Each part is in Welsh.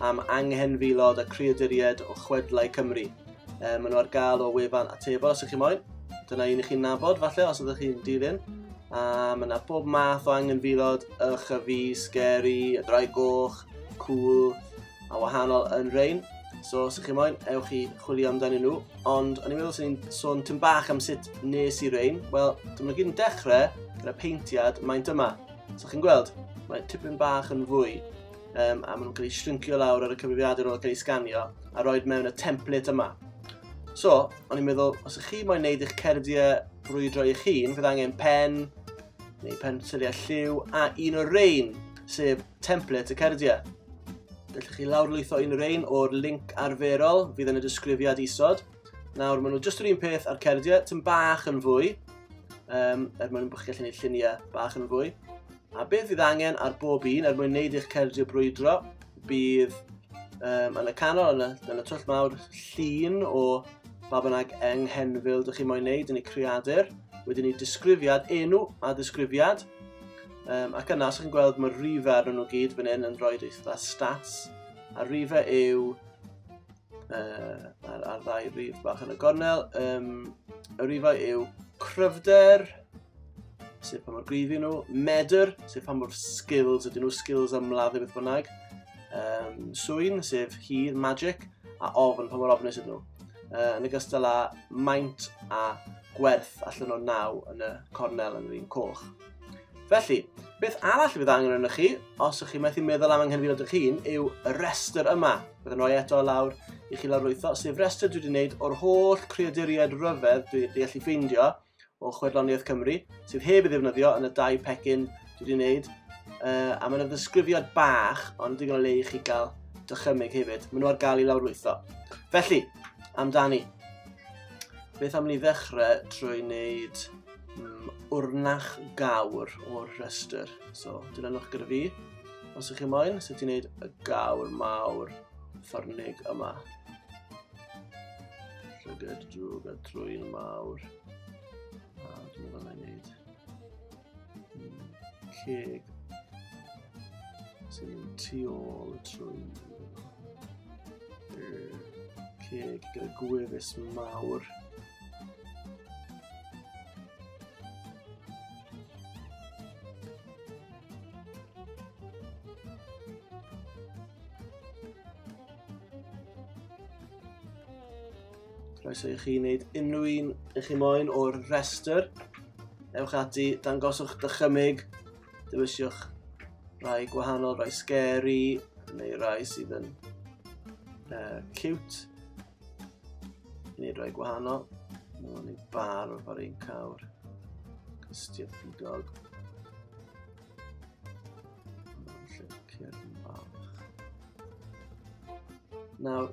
am anghenfilod a creaduriaid o chwedlau Cymru. E, maen nhw ar gael o wefan atebol os ydych chi'n moyn. Dyna un i chi'n nabod falle os ydych chi'n dilyn. A mae yna bob math o anghenfilod, ych a fi, scary, y drai goch, cool, a wahanol yn rein. So os ydych chi'n moyn, ewch i chwilio amdanyn nhw. Ond o'n i'n meddwl sy'n ni'n sôn tyn bach am sut nes i rein. Wel, dyma gyd yn dechrau gyda peintiad maint yma. So chi'n gweld, mae tipyn bach yn fwy um, a maen nhw'n cael eu shrinkio lawr ar y cyfrifiadur o'r cael eu sganio a roed mewn y template yma. So, o'n i'n meddwl, os ych chi moyn neud eich cerdiau brwydro eich hun, fydd angen pen, neu pensyliau lliw, a un o'r rein, sef template y cerdiau. Gallwch chi lawrlwytho un o'r rein o'r link arferol fydd yn y disgrifiad isod. Nawr, maen nhw jyst yr un peth a'r cerdiau, tyn bach yn fwy, um, er mwyn bod chi'n gallu gwneud lluniau bach yn fwy. A beth fydd angen ar bob un er mwyn wneud eich cerdio brwydro? Bydd um, yn y canol, yn y, yn y twll mawr, llun o ba bynnag enghenfil dych chi'n moyn wneud yn y creadur. Wedyn ni disgrifiad, enw a disgrifiad. Um, ac yna, os chi'n gweld mae'r rhifau ar nhw gyd fan hyn yn rhoi eitha stats. A rhifau yw uh, a'r, ar ddau rif bach yn y gornel. Um, y rifau yw cryfder, sef pa mor gryf nhw, medr, sef pa mor skills ydyn nhw, skills am ladd beth bynnag, um, swyn, sef hir, magic, a ofn, pa mor ofnus ydyn nhw. Uh, yn y gystal â maint a gwerth allan o naw yn y cornel yn yr un coch. Felly, beth arall fydd angen arnoch chi, os ych chi methu meddwl am anghenfil ydych hun, yw y restr yma. Bydd yn rhoi eto lawr i chi lawrlwytho, sef restr dwi wedi gwneud o'r holl creaduriaid ryfedd dwi wedi allu ffeindio o Chwedloniaeth Cymru, sydd heb ei ddefnyddio yn y dau pecyn dwi wedi gwneud, uh, a mae'n ddisgrifiad bach, ond digon o le i chi gael dychymyg hefyd. Maen nhw ar gael i lawrlwytho. Felly, amdani, beth am ni ddechrau trwy wneud mm, wrnach gawr o'r rhestr. So, dilynwch gyda fi, os ych chi'n moyn, sut i wneud y gawr mawr ffyrnig yma. Llygad drwg a trwy'n mawr. A dwi'n meddwl na i wneud. Mm, ceg sy'n tu ôl y trwy ceg gyda gwefus mawr Croeso i chi wneud unrhyw un i chi moyn o'r rhestr. Ewch ati, dangoswch dychymig, dywysiwch rhai gwahanol, rhai scary, neu rhai sydd yn uh, cute. I wneud rhoi gwahanol, mae'n mynd i'n bar o'r fawr ein cawr. Cystia ffidog. Nawr,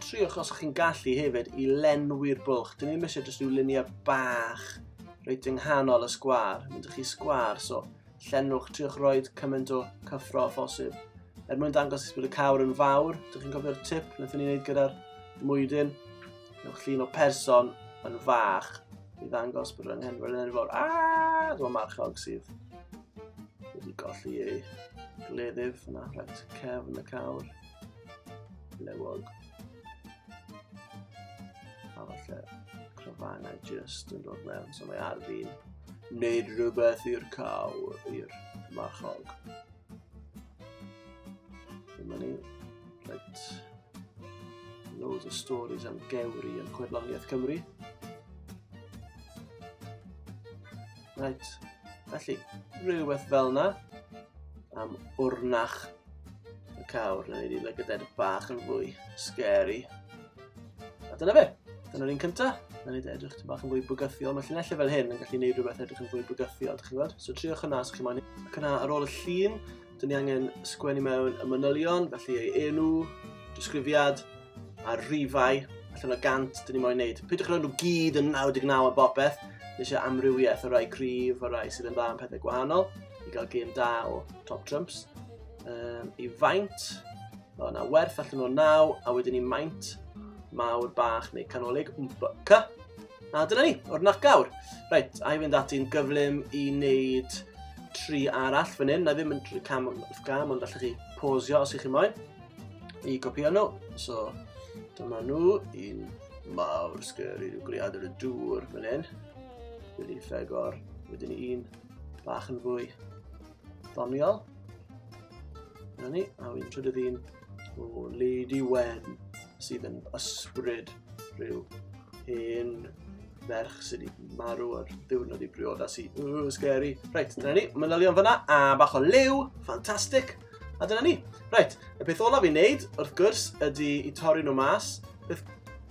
triwch os chi'n gallu hefyd i lenwi'r bwlch. Dyn ni'n mysio jyst rhyw luniau bach reit yng nghanol y sgwar. Mynd chi sgwar, so Llenwch triwch roed cymaint o cyffro a phosib. Er mwyn dangos bod y cawr yn fawr, dych chi'n cofio'r tip wnaethon ni'n wneud gyda'r mwydyn? Newch llun o person yn fach i ddangos bod yr anghenfod yn fawr. Aaaa! Dyma marchog sydd wedi golli ei gleddyf yna, rhaid cefn y cawr. Lewog. A falle cryfangau just yn dod mewn, so mae ar fi'n wneud rhywbeth i'r caw, i'r marchog. Dyma ni, right. Loads o stories am gewri yn chwedloniaeth Cymru. Right, felly, rhywbeth fel yna am wrnach Y cawr, na i ni look at that bach yn fwy scary. A dyna fe, dyna'r un cynta. Na ni edrych ti'n bach yn fwy bygythiol. Mae llinellau fel hyn yn gallu gwneud rhywbeth edrych yn fwy bygythiol, ydych chi'n gwybod? So triwch hwnna os chi'n moyn. Ac yna ar ôl y llun, dyn ni angen sgwennu mewn y manylion, felly ei enw, disgrifiad, a'r rhifau, allan o gant, dyn ni moyn wneud. Peidiwch rhaid nhw gyd yn 99 a bopeth, Nes eisiau amrywiaeth o rai cryf, o rai sydd yn dda am pethau gwahanol. i gael gêm da o top trumps. Um, I faint, o na werth allan o naw, a wedyn i maint mawr bach neu canolig, wmbyca. A dyna ni, o'r nacawr. Reit, a i fynd ati'n gyflym i wneud tri arall fan hyn. Na ddim yn cam wrth gam, ond allwch chi posio os ych chi moyn. I gopio nhw. So, dyma nhw. Un mawr sgeri, rhyw gliadr y dŵr fan hyn. Wedi ffegor. Wedyn un bach yn fwy doniol. Dyna ni, a wy'n trydydd un o Lady Wen sydd yn ysbryd rhyw hen ferch sydd wedi marw ar ddiwrnod i briodas i. Ooh, scary. Reit, dyna ni, manylion fyna, a bach o lew, ffantastig. A dyna ni. Reit, y peth olaf i wneud, wrth gwrs, ydy i torri nhw mas. Beth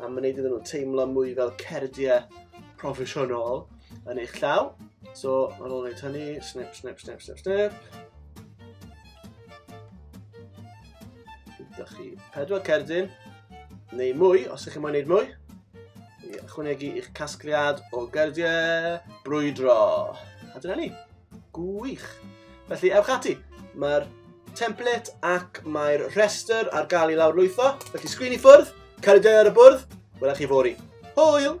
am wneud iddyn nhw teimlo mwy fel cerdiau proffesiynol yn eich llaw. So, ar ôl wneud hynny, snip, snip, snip, snip, snip. Gyda chi pedwar cerdyn, neu mwy, os ydych chi'n mwyn gwneud mwy. I ychwanegu i'ch casgliad o gerdiau brwydro. A dyna ni. Gwych! Felly, ewch ati. Mae'r template ac mae'r rhestr ar gael i lawr lwytho. Felly, sgrin i ffwrdd, cael ei ar y bwrdd, welech chi fori. Hwyl!